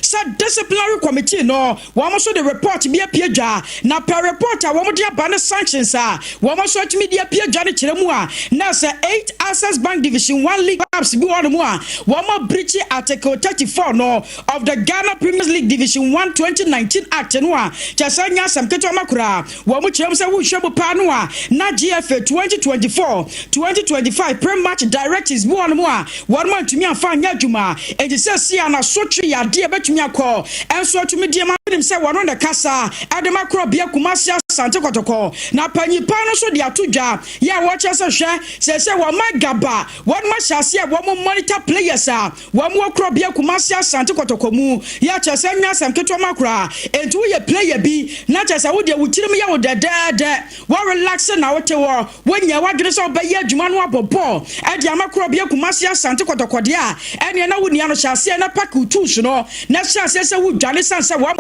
sɛ disciplinary committee no wɔn nso de report bi apue dwa na pɛ report a wɔn de aba ne sanctions a wɔn nso atumi de apue dwa no kyerɛ mu a na sɛ eight Access Bank Division One League clubs bi wɔ hɔ nom a wɔn abirikyi Article thirty four no of the Ghana Premier League Division One twenty nineteen Act no a kyɛ sɛ nyɛ asɛm ketewa ma koraa. Wɔkyerɛ mu sɛ wohwɛ mu paa no a, na GFA twenty twenty four, twenty twenty five pre-match directives boaa wɔn a wɔantumi amfa anyɛ adwuma, enti seesei a n'asotwe yɛ ade a ebetumi akɔ nso atumi de ama. Wonim sɛ wɔno na ɛkasa de ma Korɔbea Kumasi Asante Kɔtɔkɔ, na panyin pa no nso de ato dwa yɛ a wɔkyerɛ sɛ hwɛ, seesei wɔn mma Gaba, wɔnom ahyɛ aseɛ a wɔn monitor players a Wɔn wɔ Korɔbea Kumasi Asante Kɔtɔkɔ mu yɛ kyerɛ sɛ nyɛ asɛm ketewa ma koraa enti woyɛ player bi na kyerɛ sɛ wodeɛ wo tirim yɛ wo dɛdɛɛdɛ wo relax na wote hɔ wonyɛɛ w'adwene sɛ wobɛyɛ adwuma no abɔ bɔɔl de ama Korɔbea Kumasi Asante Kɔtɔkɔ deɛ a ɛneɛ na wonia no hyɛ aseɛ na pack wo tools no na hyɛ aseɛ sɛ wodwane sane sɛ wɔn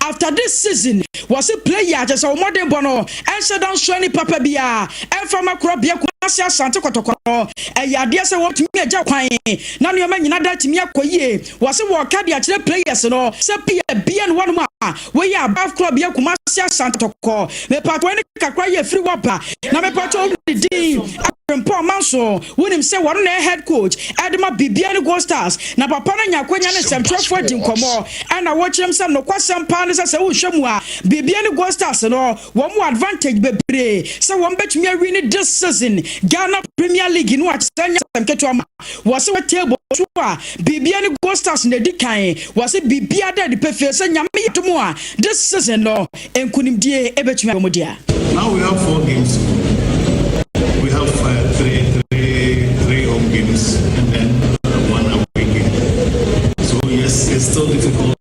after this season wɔse player kyerɛ sɛ wo mmɔdenbɔ no Ɛnhyɛ da nsoa nnipa pa biara mfa mma Korabea Kumasi Asante Kɔtɔkɔrɔ. Ɛyɛ adeɛ sɛ wɔbɛtumi agya kwan na nneɛma nyina da atumi akɔ yie. Wɔse wɔreka de akyerɛ players no sɛ pia bi ɛne wɔnom a woyɛ above Korabea Kumasi Asante Kɔtɔkɔrɔ. Mepaatɔ ɛne kakra yi ɛfiri hɔ ba na mepaatɔ wo ne din Abrempɔn Manso wonim sɛ wɔno na ɛyɛ head coach ɛde ma biribiara ne Gold Stars na papa no anya akwanya ne nsɛmtwerɛfoɔ adi nkɔmmɔ ɛna wɔkyerɛm sɛ nokwasɛm paa ne sɛ sɛ wohwɛ mu a Biribiara ne goal stars no wɔn wɔ advantage bebree sɛ wɔn bɛtumi awie ne this season Ghana premier league no akyɛ sɛ nyɛ asɛm ketewa ma wɔse wɔ table so a biribiara ne goal stars na ɛdi kan wɔse biribiara da adi pefee sɛ nyame yɛ adom a this season no nkunimdie ɛbɛtumi ayɛ wɔn dea. Now we have four games to go. We have five, three, three, three home games and then one away game. So yes, it's still difficult.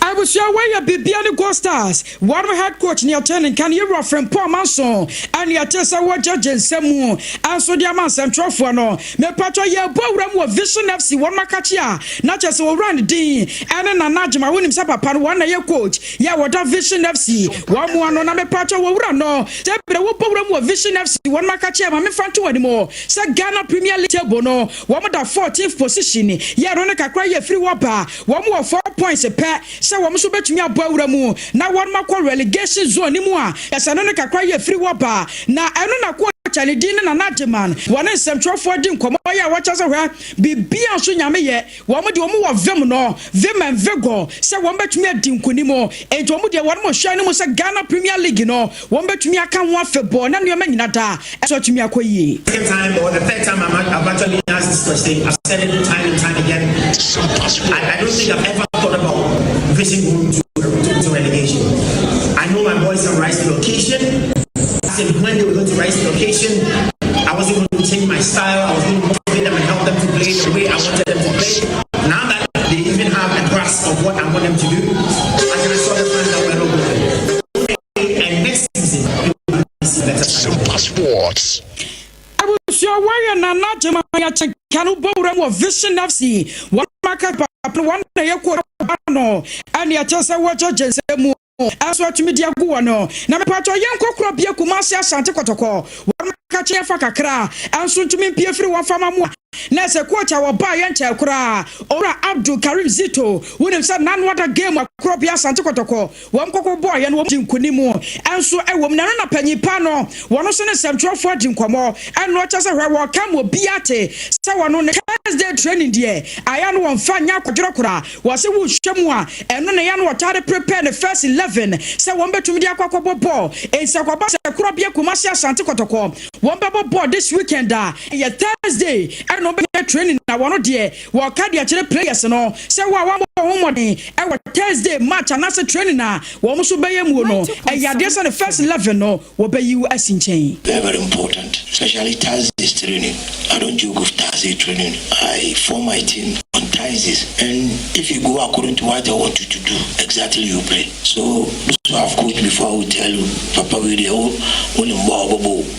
Abusua wei yɛ bibia ne Gold Stars wɔnom head coach nea ɔte ne nka ne yɛwura Frimpong Amanson ɛne ɛte sɛ wɔ gyɛgye nsɛm mu nso de ama nsɛmtwerɛfoɔ no. Mepatwɔ yɛɛbɔ awura mu wɔ Vision FC wɔnom akakye a na kyerɛ sɛ ɔwura no din ɛne Nana Agye ma wonim sɛ papa no wɔn na ɛyɛ coach yɛ a wɔda Vision FC wɔn mu ano na mepatwɔ wɔ wura no sɛ berɛ wɔbɔ awura mu wɔ Vision FC wɔnom akakye a ma memfa nto wɔn anim sɛ Ghana Premier League table no wɔn da 14th position yɛ ɛno ne kakra yɛ firi hɔ ba Wɔn wɔ four points pɛ sɛ wɔn nso bɛtumi abɔ awura mu na wɔn akɔ relegation zone no mu a ɛsɛ no no kakra yɛ firi hɔ ba. Na ɛno na coach a ne din ne Nana Agyemang wɔ ne nsɛmtwerɛfoɔ di nkɔmmɔ yɛ a wɔkyerɛ sɛ hwɛ biribiara nso Nyame yɛ. Wɔn deɛ wɔn wɔ vim no, vim and vigour sɛ wɔn bɛtumi adi nkunim. Enti wɔn deɛ wɔn hyɛn no mu sɛ Ghana Premier League no Wɔbɛtumi aka ho afebɔɔ na nneɛma nyina daa so atumi akɔ yie. And next season, you will be better. Super Sports. abusua wɔyɛ nana gyema yɛkyɛ ka no bɔ wuram wɔ vision fc wɔn maka papa wɔn na yɛ kɔ ba no ɛne ɛkyɛ sɛ wɔkyɛ gyensɛ mu ɛso atumi de agu wɔ no na mepatɔ yɛ nkɔkorɔ bie kuma ase asante kɔtɔkɔ wɔn maka kyɛ fa kakra ɛnso ntumi mpie firi wɔn fama mu a na ɛsɛ coach a wɔba yɛ nkyɛn koraa owura abdul karim zito wonim sɛ nanoa da game akorɔ bia asante kɔtɔkɔ Wɔn koko bɔeɛ no wɔn dii nkonim nso wɔ mu. Na ɛno na panyin pa no, wɔn nso ne nsɛmtwerɛfoɔ di nkɔmmɔ. Ɛnoɔ kyerɛ sɛ hwɛ wɔreka ama obiara te sɛ wɔn no. Thursday training deɛ ayɛ no wɔmfa nyɛ akwadworɔ koraa. Wɔse wohwɛ mu a ɛno na ɛyɛ a na wɔtaa de prepare ne first eleven sɛ wɔn bɛtumi de akɔ akɔbɔ bɔɔl. Enti sɛ ɛkɔba sɛ koro bea Kumasi Asante Kɔtɔkɔ wɔn bɛbɔ bɔɔl this weekend a ɛyɛ Thursday ɛna wɔbɛyɛ training na wɔn deɛ Wɔka de akyerɛ players no sɛ wɔn a wɔabɔ wɔn ho mmɔden wɔ Thursday match anaasɛ training a wɔn nso bɛyɛ muo no, ɛyɛ adeɛ sɛ ne first eleven no wɔbɛyi wo asi nkyɛn. Very very important especially Thursday's training I don't joke with Thursday training I form my team on Thursdays and if you go according to what I want you to do exactly you play so those who have coached before will tell you papa wei deɛ wo wo nim bɔ a ɔbɛbɔ o.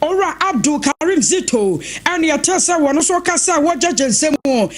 Owura Abdul Karim Zito ne yɛtee sɛ wɔn nso reka sɛ wɔregyagye nsɛm mu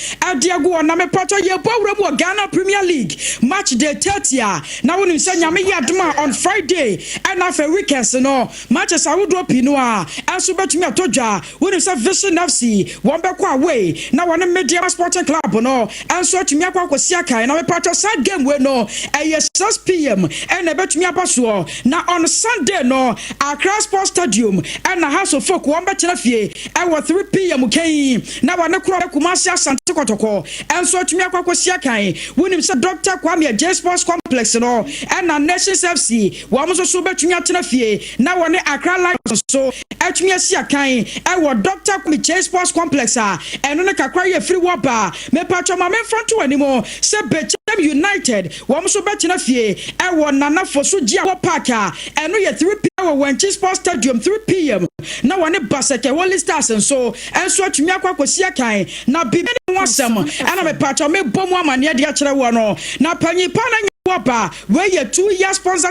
de agu wɔn na mepatɔ yɛrebɔ awura mu wɔ Ghana Premier League match day 30 a na wonim sɛ Nyame yɛ adom a on Friday ɛna afei weekends no matches ahodoɔ pii no ara nso bɛtumi atɔ dwa. Wonim sɛ Vision FC wɔn bɛkɔ away na wɔne Medeama Sporting Club no Nso atumi akɔ akɔsia kan na mepatwɔ saa game wei no ɛyɛ 6 pm ɛna ɛbɛtumi aba soɔ na on Sunday no Accra Sports Stadium ɛna Hearts of Oak wɔn bɛtena fie ɛwɔ 3 pm kan yi na wɔne korɔ bɛ Kumasi Asante Kɔtɔkɔ nso atumi akɔ akɔsia kan wonim sɛ Doctor Kwame Agyei Sports Complex no ɛna Nations FC wɔn nso so bɛtumi atena fie na wɔne Accra Lions nso atumi asi akan wɔ Dɔkta Kwame Kyei Sports Complex a ɛno no kakra yɛ firi wɔ ba a, mepatwɔ ma memfa nto w'anim sɛ Bechem United wɔn nso bɛtena fie wɔ Nana Fosu Gyeawo Park a ɛno yɛ 3 pm wɔ Wankye Sports Stadium 3 pm na wɔne Baseke Holy Stars nso nso atumi akɔ akɔsi akan na biribi ne ho asɛm na mepatwɔ mebɔ mu amanneɛ de akyerɛ woɔ no na panyin paa na nyɛ wɔ ba a wei yɛ two year sponsorship